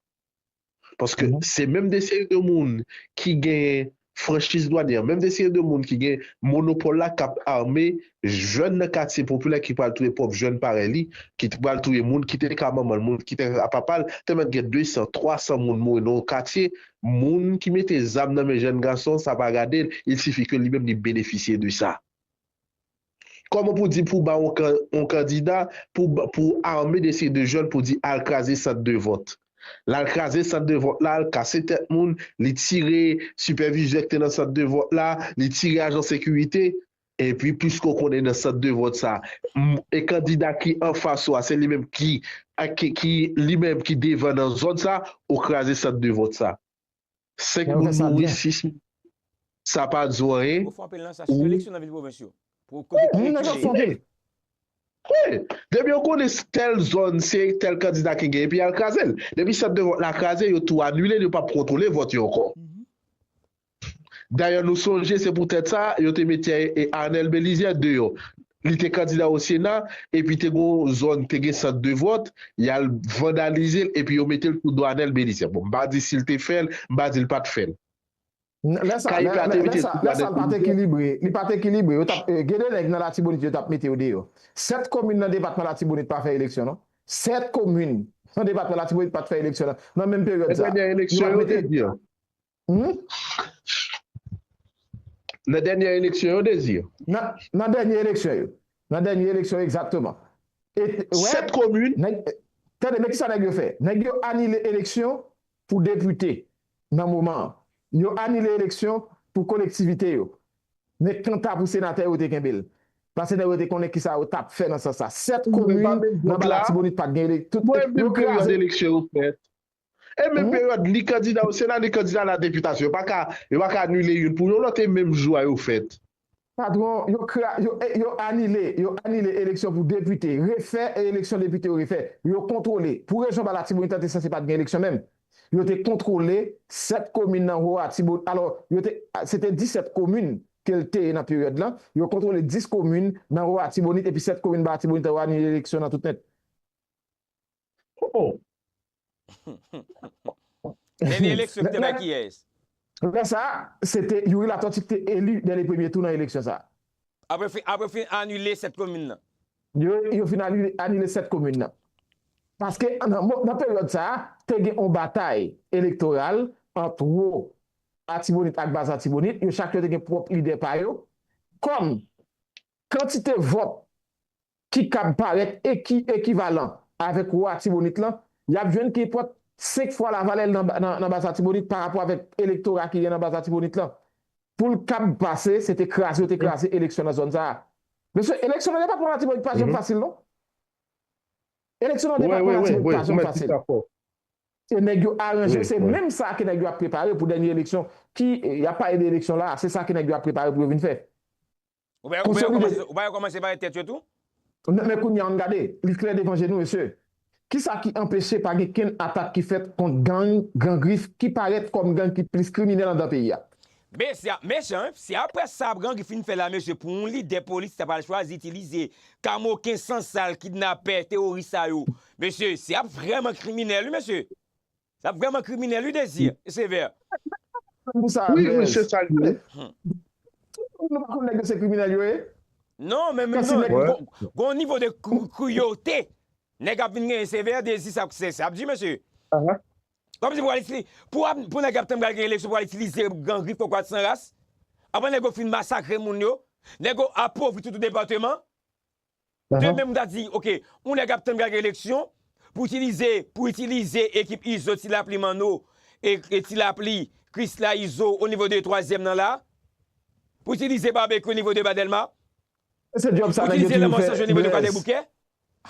Paske se menm de seri de moun ki gen franchiz dwanyè, menm de seri de moun ki gen monopòl la kap ame jèn nan katye popilè ki pral touye pwòp jèn parèy li, ki t pral touye moun, ki te ka manman l, moun ki te ka papa l, tèlman t gen 200, 300 moun mouri nan yon katye, moun ki mete zam nan men jèn gason sa pa gade l, il sifi ke li menm li benefisye de sa. Kòman pou di pou ba yon kan, yon kandida, pou pou ame de seri de jèn pou di al kraze sant de vòt. L al kraze sant de vòt la, l kase tèt moun, li tire sipèvizè k te nan sant de vòt la, li tire ajan sekirite, Epi piske w konnen nan sant de vòt sa a kandida ki anfas ou a se li menm ki ki li menm ki devan nan zòn sa a, ou kraze sant de vòt sa a. Senk moun mouri, sis moun sa pa di w anyen. Ou fwape l nan sa. Sitou eleksyon nan vil pwovens yo. Moun nan chak sonde. Wi! Depi yo konnen tèl zòn se tèl kandida ki genyen epi y al kraze l. Depi sant de vòt la kraze yo tou anile l yo pap kontwole vòt yo ankò. Dayè nou sonje se pou tèt sa yo te mete Arnel Belizaire deyò. Li te kandida o Sena epi te gen yon zòn te gen sant de vòt, y al vandalize l epi yo mete l sou do Arnel Belizaire. Bon, m pa di si l te fè l, m pa di l pa t fè l. Lè sa, lè sa, lè sa, lè sa l pa t ekilibre, li pa t ekilibre. Yo t ap, gen de nèg nan Latibonit yo t ap mete yo deyò. Sèt komin nan depatman Latibonit pa fè eleksyon non. Sèt komin nan depatman Latibonit pa t fè eleksyon nan menm peryòd sa a. Dènyè eleksyon yo te di an. Nan dènyè eleksyon yo, Désir? Nan dènyè eleksyon yo. Nan dènyè eleksyon yo, egzakteman. Sèt komin. Tande, men kisa nèg yo fè. Nèg yo anile eleksyon pou depite nan moman an. Yo anile eleksyon pou kolektivite yo. Men kanta pou senatè yo te kenbe l. Pase nèg yo te konnen kisa yo t ap fè nan sans sa. Sèt komin nan ba Latibonit pa t gen eleksyon. Mwen menm pèryòd eleksyon yo fèt. E menm peryòd li kandida au Sena, li kandida a la deputation. Yo pa ka, yo pa ka anile youn pou yon lòt e menm jou a yo fèt. Patwon, yo kra, yo, yo anile, yo anile eleksyon pou depite, refè e eleksyon depite yo refè. Yo kontwole, pou rezon ba Latibonit an te sanse pa t gen eleksyon menm. Yo te kontwole 7 komin nan Ho Atibo, alò, yo te, se te 17 komin ke l te nan peryòd lan, yo kontwole 10 komin nan Ho Atibonit epi 7 komin ba Atibonit an yo anile eleksyon nan tout nèt. Ooh! Dènye eleksyon ki te bay kiyès? Lè sa a, se te Youri Latortue ki te eli dè le premye tou nan eleksyon sa a. Apre fin, apre fin anile 7 komin nan. Yo, yo fin anile, anile 7 komin nan. Paske nan mo, nan peryòd sa a, te gen yon batay elektoral ant Wo Atibonit ak Bas Atibonit, yo chak yo te gen pwòp lidè pa yo. Kòm kantite vòt ki kab parèt e ki ekivalan avèk wò Atibonit lan, y ap jwenn ki pot 5 fwa lavalè l nan baz Atibonit parapò avèk elektora ki gen nan baz Atibonit lan. Pou l kab pase, se te kraze yo te kraze eleksyon nan zòn sa a. Mesye, eleksyon nan depatman Latibonit pa janm fasil non. Eleksyon nan depatman Latibonit pa janm fasil. E nèg yo aranje, se menm sa ke nèg yo ap prepare pou dènye eleksyon ki, y ap pale de eleksyon la a, se sa ke nèg yo ap prepare pou yo vin fè. Konsolide. Ou pa yo kòmanse pale tèt yo tou? Men kounye a ann gade, li klè devan je nou mesye. Kisa ki anpeche pa gen kenn atak ki fèt kont gang Gran Grif ki parèt kòm gang ki plis kriminèl anndan peyi a? Mesye ap mechan wi, si aprè sa Gran Grif fin fè la mesye pou yon lidè polis ta pral chwazi itilize kamoken san sal kidnapè teworis sa yo mesye se ap vrèman kriminèl wi mesye. Sa vreman kriminel wi Desir e sever. Wi wi se sal ye wi. Tout moun pa konn nèg yo se kriminèl yo ye. Non men gon nivo de cruauté nèg ap vin genyen sever dezi sa ap di mesye. Kom si pou nèg ap tann pral gen eleksyon pral itilize gang ri fo kwat san ras. Aprè nèg yo fin masakre moun yo. Nèg yo apovri tout depateman. Demen m ta di ok yon nèg ap tann gag eleksyon pou itilize pou itilize ekip izo ti lapli manno e ti lapli krisla izo o nivo de twazyèm nan la pou itilize babekyou o nivo de ba dèlma pou itilize lanmò sanjou o nivo de kwadèboukè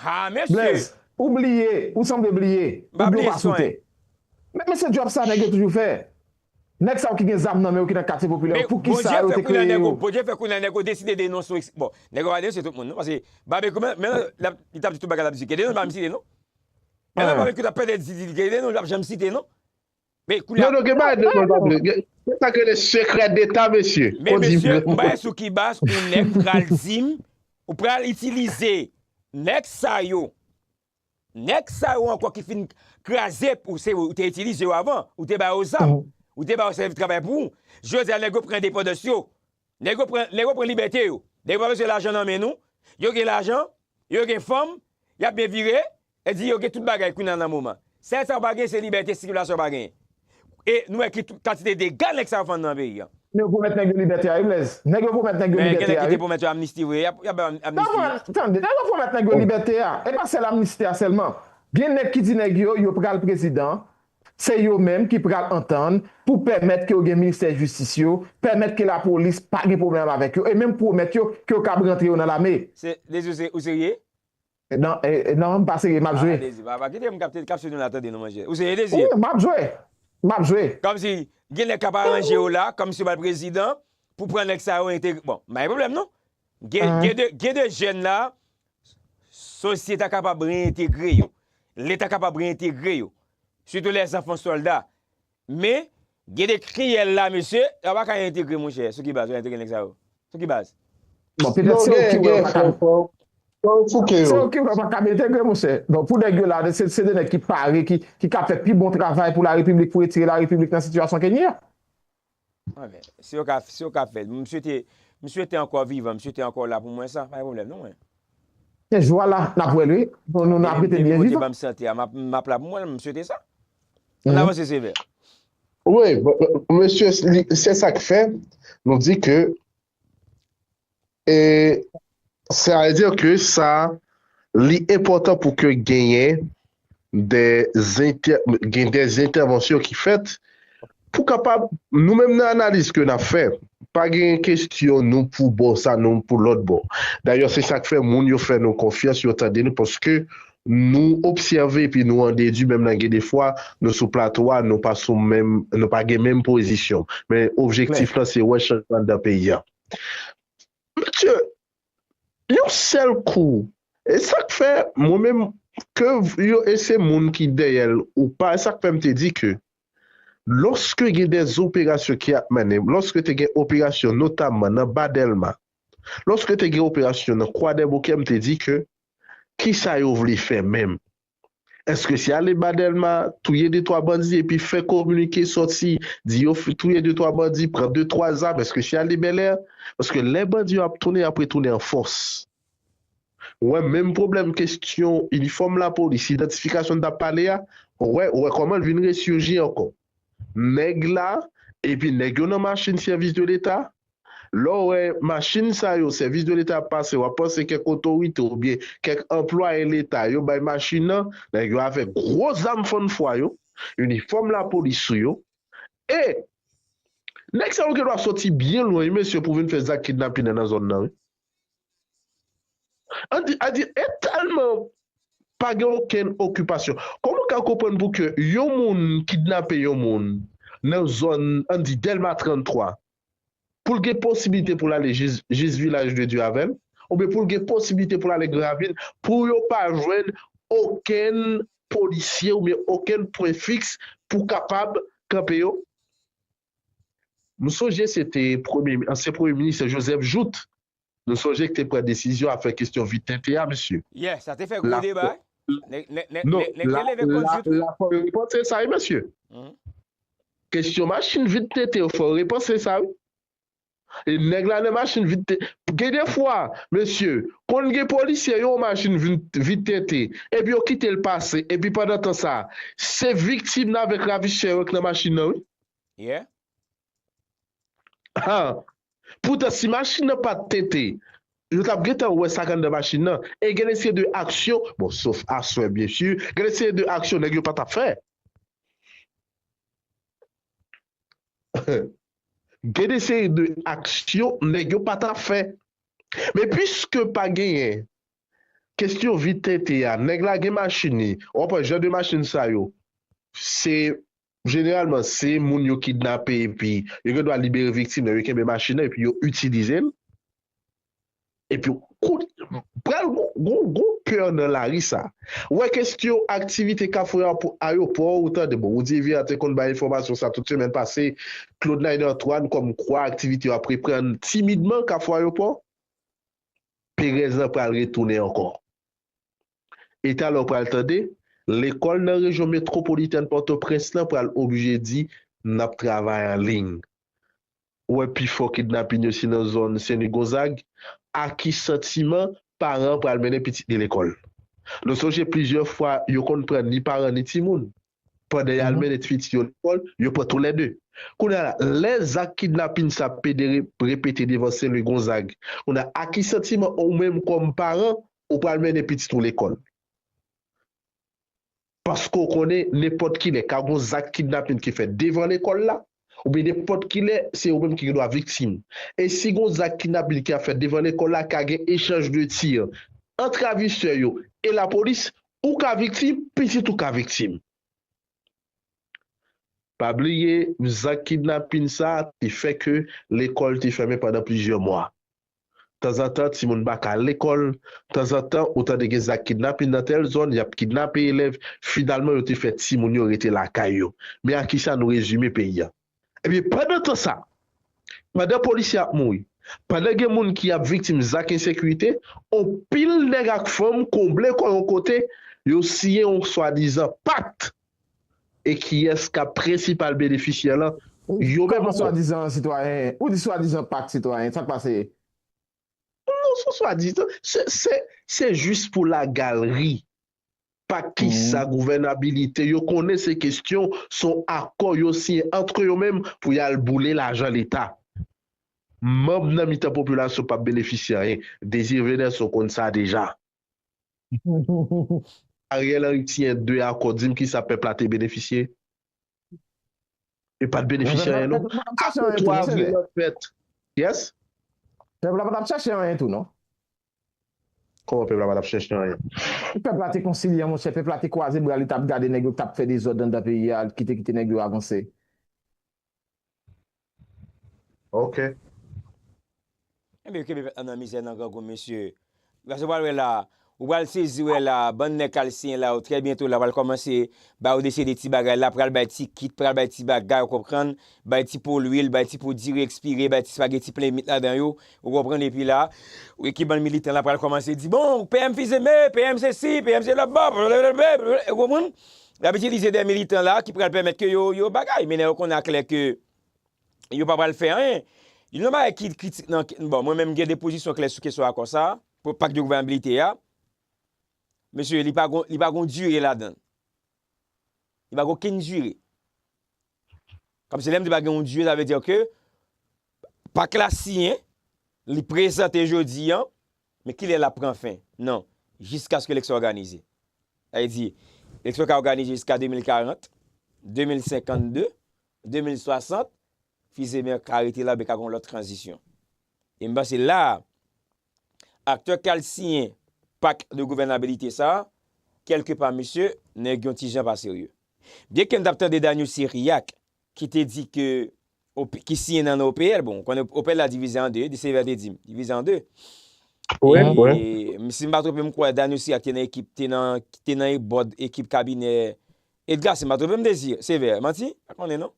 haa mesye m pa bliye san men se djòb sa nèg yo toujou fè Nèg sa yo ki gen zam nan men yo ki nan katye popilè yo poukisa yo te kreye yo? Bondye fè kounya nèg yo deside denonse yo bon nèg yo pa denonse tout moun non paske Babekyou menm menm lap li tap di tout bagay lap di Gedeon li pa menm site non menm lè Babekyou tap pèdè di li Gedeon li pap janm site non men kounya non non gen bagay Gedeon pap di gen sa ki rele sekrè deta mesye men mesye m pale sou ki baz yon nèg pral dim ou pral itilize nèg sa yo Nèg sa yo ankò ki fin kraze ou se ou te itilize yo avan, ou te ba yo zam, ou te ba yo sèvi travay pou ou, jodi a nèg yo pran endepandans yo, nèg yo pran, nèg yo pran libète yo, nèg yo pa bezwen lajan nan men nou, yo gen lajan, yo gen fanm, y ap byen vire, e di yo gen tout bagay kounye a nan moman. Sèl sa yo pa gen se libète sikilasyon yo pa gen. E nou wè ki kantite dega nèg sa yo fann nan peyi an. Nèg yo pwomèt nèg yo libète a wi Blèz. Nèg yo pwomèt nèg yo libète a wi. Men gen nèg ki te pwomèt yo amnisti vre. Yap bay yo amnisti wi. Tande, nèg yo pwomèt nèg yo libète a. E pa sèl amnisti a sèlman. Gen nèg ki di nèg yo, yo pral prezidan. Se yo menm ki pral antann pou pèmèt ke yo gen ministè jistis yo, pèmèt ke lapolis pa gen pwoblèm avèk yo e menm pwomèt yo ke yo kab rantre yo nan lame. Se, Dezi ou serye? Non m pa serye map jwe. Ala dezi papa kite m kapte kapsyon nou la tande non monchè ou serye dezi. Ou map jwe map jwe. Komsi gen nèg kap aranje yo la komsi yo pral prezidan pou pran nèg sa yo entegre bon m pa gen pwoblèm non gen de jèn la sosye ta kapab reyentegre yo leta kapab reyentegre yo sitou lè zanfan solda Men, gen de kriyèl la mesye, yo pa ka entegre monchè, sou ki baz yo entegre nèg sa yo? Sou ki baz? Bon, petèt se ou ki wè yo pa ka. Se ou ki wè yo pa ka entegre monchè. Donk pou nèg yo la, se de nèg ki pare, ki ka fè pi bon travay pou la repiblik, pou retire la repiblik nan sitiyasyon ke li a. Si yo ka si yo ka fèl. M swete m swete ankò vivan, m swete ankò w la pou mwen sa, pa gen pwoblèm non mwen. Se jou a la nap wèl wi, nou nap rete byen vivan. Depi Bondye banm sante a map la pou mwen, m swete sa. Ann avanse Sevè. Wi, mesye se sak fè nou di ke E sè a di ke sa li enpòtan pou ke genyen de zentè, gen de zentèvansyon ki fèt pou kapab nou menm nan analiz ke nap fè pa gen kestyon nou pou bò sa nou pou lòt bò. Dayè se sak fè moun yo fè nou konfyans yo tande nou paske Nou obsève epi nou an dedwi menm nan gen de fwa nou sou plato a nou pa sou menm nou pa gen menm pozisyon men objektif lan se wè chanjman anndan peyi a. Mesye, yon sèl kou e sa k fè mwen menm ke yo e se moun ki dèyè l ou pa e sa k fè m te di ke lòske gen dè operasyon ki ap mennen lòske te gen operasyon notamman nan ba Dèlma lòske te gen operasyon nan Kwadèboukè m te di ke Kisa yo vle fè menm? Eske se ale ba Dèlma, touye de twa bandi epi fè kominike sòti di yo touye de twa bandi, pran de twa zam, eske se ale Bèlè? Paske lè bandi yo ap tounen, y ap retounen an fòs. Wè menm pwoblèm kesyon inifòm lapolis, idantifikasyon n t ap pale a, wè wè kòman l vin resurgi ankò. Nèg la epi nèg yo nan machin sèvis de leta, Lè w wè machin sa yo, sèvis de leta ap pase, wap panse kèk otorite oubyen kèk anplwaye leta yo bay machin nan, nèg yo avèk gwo zam fann fwa yo, inifòm lapolis sou yo, e nèg sa yo gendwa soti byen lwen wi mesye pou vin fè zak kidnapin nan nan zòn nan wi. An di, a di e tèlman pa gen okenn okipasyon, kòman w ka konprann pou ke yon moun kidnape yon moun nan zòn, an di Dèlma 33, pou l gen posiblite pou l ale jis Vilaj de Dye avè l, oubyen pou l gen posiblite pou l ale Granvil, pou yo pa jwenn okenn polisye oubyen okenn pwen fiks pou kapab kanpe yo? M sonje se te ansyen premye minis Joseph Jouthe Nou sonje k te pran desizyon ap fè kestyon vit tenten a mesye. Yeah sa te fè gwo deba nèg te leve kont vit wi. La fò yo repanse sa wi mesye. Kestyon machin vit tenten yo fò yo repanse sa wi. E nèg la nan machin vit tenten gen de fwa mesye konn gen polisye yo machin vit tenten epi yo kite l pase epi pandan tan sa se viktim nan avèk ravisè yo k nan machin nan wi. Yeah. Ha! Poutan si machin nan pat tente, yo tap gentan wè sak anndan machin nan e gen de seri de aksyon, bon sof aswè byen su, gen de seri de aksyon nèg yo pa tap fè. Gen de seri de aksyon nèg yo pa tap fè. Men puiske pa genyen kestyon vit tente a, nèg la gen machin li, wap wè jan de machin sa yo se Jeneralman se moun yo kidnape epi yo gen dwa libere viktim nan, yo kenbe machin nan epi yo itilize l. Epi kout pral gon gon pè nan lari sa. Ou wè kestyon aktivite kafou a pou ayopò ou tande bon Roudy Vira te konn bay enfòmasyon sa tout semèn pase Claude Nainer Antoine kòm kwa aktivite yo ap reprann timidman kafou ayopò. Perèz lan pral retounen ankò. E talè w pral tande, lekòl nan rejyon metwopolitèn Pòtoprens lan pral oblije di, N ap travay an liy. Ou wè pi fò kidnapin yo se nan zòn Senlwi Gonzag. A ki santiman paran an pral mennen pitit li lekòl? Nou sonje plizyè fwa yo konn pran ni paran ni timoun. Pandan y al mennen pitit yo lekòl, yo pran tou lè de. Kounye a la, lè zak kidnapin sa ap pede repete devan Senlwi Gonzag, kounye a a ki santiman ou menm kòm paran Ou pral mennen pitit ou lekòl. Paske ou konnen nenpòt kilè ka gon zak kidnapin ki fèt devan lekòl la, oubyen nenpòt kilè se ou menm ki gendwa viktim. E si gon zak kidnapin ki ap fèt devan lekòl la ka gen echanj de tir ant ravisè yo e lapolis, ou ka viktim, pitit ou ka viktim. Pa bliye, zak kidnapin sa te fè ke lekòl te fèmen pandan plizyè mwa. Tanzantan timoun pa ka al lekòl, tanzantan ou tande gen zak kidnapin nan tèl zòn, y ap kidnape elèv, finalman yo te fè timoun yo rete lakay yo. Men a ki sa nou rezime peyi a. Ebyen pandan tan sa, pandan polisye ap mouri, pandan gen moun ki ap viktim zak ensekirite, on pil nèg ak fanm konble kò yon kote, yo siyen on swadizan Pact E kiyès kap prensipal benefisyè lan? Yo menm ankò. Kòman swadizan sitwayen? Ou di swadizan pak sitwayen, sak pase? Non son swadizan, se jis pou la galri. Pak kisa, gouvènabilite, yo konnen se kestyon, son akò yo siyen antre yo menm pou yal boule lajan leta. Manm nan mitan popilasyon pap benefisyè anyen. Désir Venanson konn sa deja. Ariel Henry siyen 2 akò dim kisa pèp la te benefisye? Yo pat benefisye anyen non. Akò 3 avril lan fèt. Yes? Pèp la pa tap chèche anyen tou non. Kòman pèp la pa tap chèche anyen? Pèp la te konsilyan monchè, pèp la te kwaze bra li tap gade nèg yo k tap fè dezòd anndan peyi a, ki te kite nèg yo avanse. Ok. Ebyen yo kenbe pèp la nan mizè nan grangou mesye. Pase ou pral wè la, ou pral sezi wè la, bann nèg kal siyen la yo trè byento la pral kòmanse ba yo desye de ti bagay la, pral bay ti kit, pral bay ti bagay ou konprann, bay ti po lwil, bay ti po diri ekspire, bay ti spageti plen mit ladan yo, ou konprann epi la, ou ekip bann militan la pral kòmanse di bon PM fizeme, PM sesi, PM se lòbòp, blablabla, ou konprann? Y ap itilize de militan la ki pral pèmèt ke yo bagay, men lè yo konnen aklè ke yo pa pral fè anyen. Youn nan bagay ki kritik nan, bon, mwen menm m gen de pozisyon klè sou kesyon akò sa a, pou pak de gouvènabilite a. Mesye, li pa gon dire ladan l. Li pa gen okenn dire. Kòm si lè m di pa gen yon Dye, sa vle di ke pak la siyen, li prezante jodi an, men kilè l ap pran fen? Non, jiskaske leksyon òganize. Sa vle di, leksyon ka òganize jiska 2040, 2052, 2060, fize men ka rete la oubyen ka gen yon lòt tranzisyon. E m panse la a, Aktè k al siyen pak de gouvènabilite sa, kèlke pa mesye, nèg yon ti jan pa serye. Byen ke m t ap tande Daniel Cyriaque ki te di ke ki siyen nan nan OPL, bon ou konnen OPL la divize an 2, Dessalines te di m, divize an 2. Si m pa twonpe m kwè Daniel Cyriaque te nan ekip, te nan bòd ekip kabinè Edgar si m pa twonpe m Désir, Sévère, manti? M pa konnen non.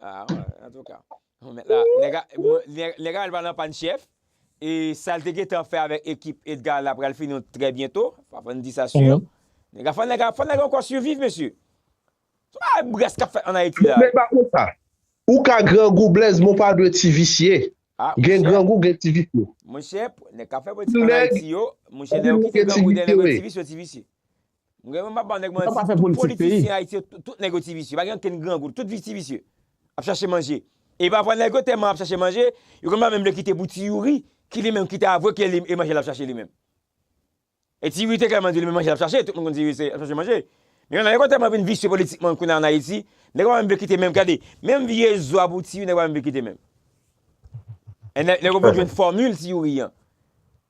Ah ouais, en tout cas. Bon, Mèt la, nèg a- mwen- nèg nèg a al pa nan pann chèf. E sa l te gentan fè avèk ekip Edgar la pral fini trè byento. Pa fò n di sa sur. Mhm. Nèg a fò nèg a fò nèg a ankò siviv mesye. Sa pa brès k ap fèt an Ayiti la. Nèg la konsa. Ou ka grangou Blaise men w pa dwe ti visye. Ah, Gen monchè. grangou gen ti visye. Monchè, nèg k ap fè politik an Nèg- Ayiti yo, monchè lè yo Anpil nèg kite gen ti grangou dèyè nèg yo visye, ti wi. visye yo ti visye. Mwen menm papa nèg manti tout politisyen ayiti yo tout nèg yo ti visye pa gen okenn grangou tout ti visye ap chache manje e pafwa nèg yo tèman ap chache manje yo konn pa menm vle kite pou ti youri ki li menm ki te avwe ke e manje lap chache li menm e ti youri te klèman di li menm manje lap chache tout moun konn ti youri se ap chache manje men nèg yo tèman vin visye politikman kounye a an ayiti nèg yo pa menm vle kite menm gade menm vye zo a pou ti youri nèg yo pa menm vle kite menm e nèg yo pa menm vle jwenn fòmil ti youri an.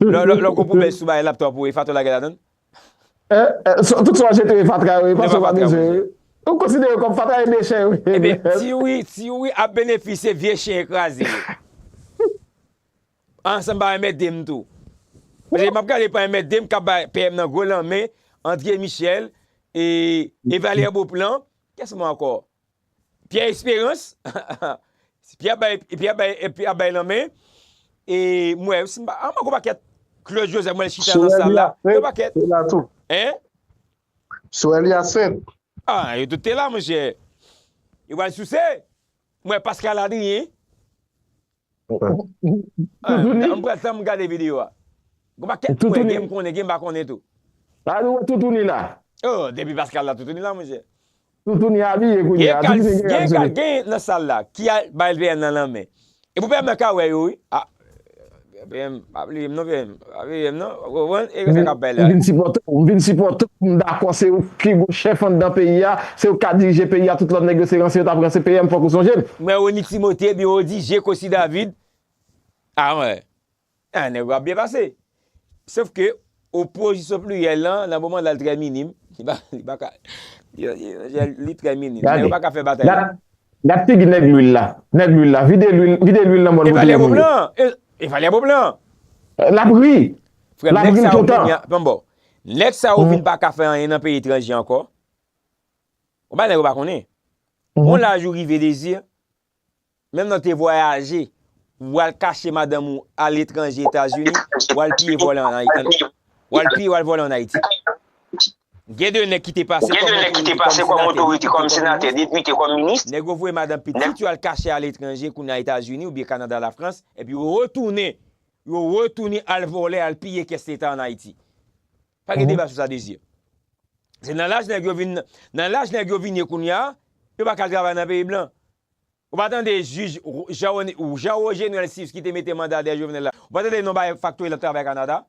Lè w kon pwoblèm sou bagay laptop ou e fatra lage ladann? Tout sa w jete yo e fatra yo e pa sa w pa bezwen yo. Ou konsidere yo kòm fatra e dechè yo. Ebyen ti wi ap benefisye vye chen kraze yo. An san m pa anmède m tou. Paske m ap gade pou anmède m k ap bay PM nan gwo lanmen, André Michel, Evalière Beauplan, kès mwen ankò? Pierre Esperance Pierre bay Pierre bay Pierre bay nan men e m wè si m pa an m gwo pakèt Claude Joseph m wè l chita nan sal la gwo pakèt hein Sorel Hyacinthe ah yo tout te la monchè yo pral souse m wè Pascal Adrien Toutouni. Mpral fè m gade video a. Gon pa kèt mwen gen m konnen gen m pa konnen tou. Sa nou wè toutouni la. Oh depi Pascal la toutouni la monchè. Toutouni abiye kounye a. Toutouni gen kal sou li. Gen nan sal la ki al bay PM nan lanmen. Epou PM nan ka wè yo wi. PM pa bliye m non PM. M vin sipòte w, m vin sipòte w, m dakò se ou pi gwo chèf anndan peyi a, se ou k ka dirije peyi a, tout lòt nèg yo se ranse yo t ap ranse PM fòk ou sonje m. Mwen Rony Timothé, biwo di Je Cossy David, a mwen, a nèg yo ap byen pase. Sof ke opozisyon pliryèl lan, nan moman la l trè minim, li pa, li pa ka, li trè minim, nèg yo pa ka fè batay la. Gade, gade figi nèg lwil la, nèg lwil la, vide lwil, vide lwil nan bòl pou touye moun yo. E valè bob lan. Lap ri. Frem neg sa yo vin Nan bon. Neg sa yo vin pa ka fe anyen Nan peyi etranje anko. Ou bay neg yo pa konnen. On laj ou rive dezir. Menm nan te vwayaje. Wal kache madanm ou a letranje etazini. Wal piye vole an ayiti. Wal piye wal vole an ayiti. Gen de nèg ki te pase kòm otorite, kòm senatè, depite, kòm minis. Nèg yo voye madan pitit yo al kache aletranje, kounye a Etazini oubyen Kanada, Lafrans, epi yo retounen, yo retounen al vòlè, al piye kès leta an Ayiti. Pa gen deba sou sa Désir. Se nan laj nèg yo vin, nan laj nèg yo vin ye kounye a, yo pa ka al travay nan peyi blan. Ou pa tande jij Jean Rogenel Sius ki te mete manda dèyè Jovenel la, ou pa tande non Baye Factory la travay Kanada?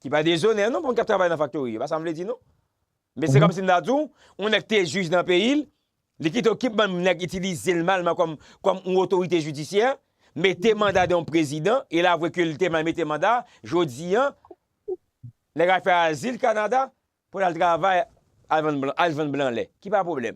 Ki pa dezonè non pou moun k ap travay nan faktori yo, se pa sa m vle di non. Men se kòmsi m ta di w, yon nèg ki te jij nan peyi l, li kite yon kip bann nèg itilize l malman kòm yon otorite jidisyè, mete manda de yon prezidan, e l avwe ke li te mal mete manda, jodi an, nèg al fè azil Kanada pou l al travay, al vann blan lè. Ki pa pwoblèm.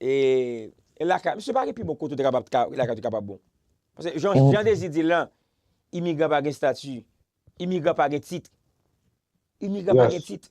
E lakay, misye pa gen pi bon kote ou te kapab ka, lakay ou te kapab bon. Paske jan Jean Désir di l lan, imigran pa gen stati, imigran pa gen tit. Imigran pa gen tit.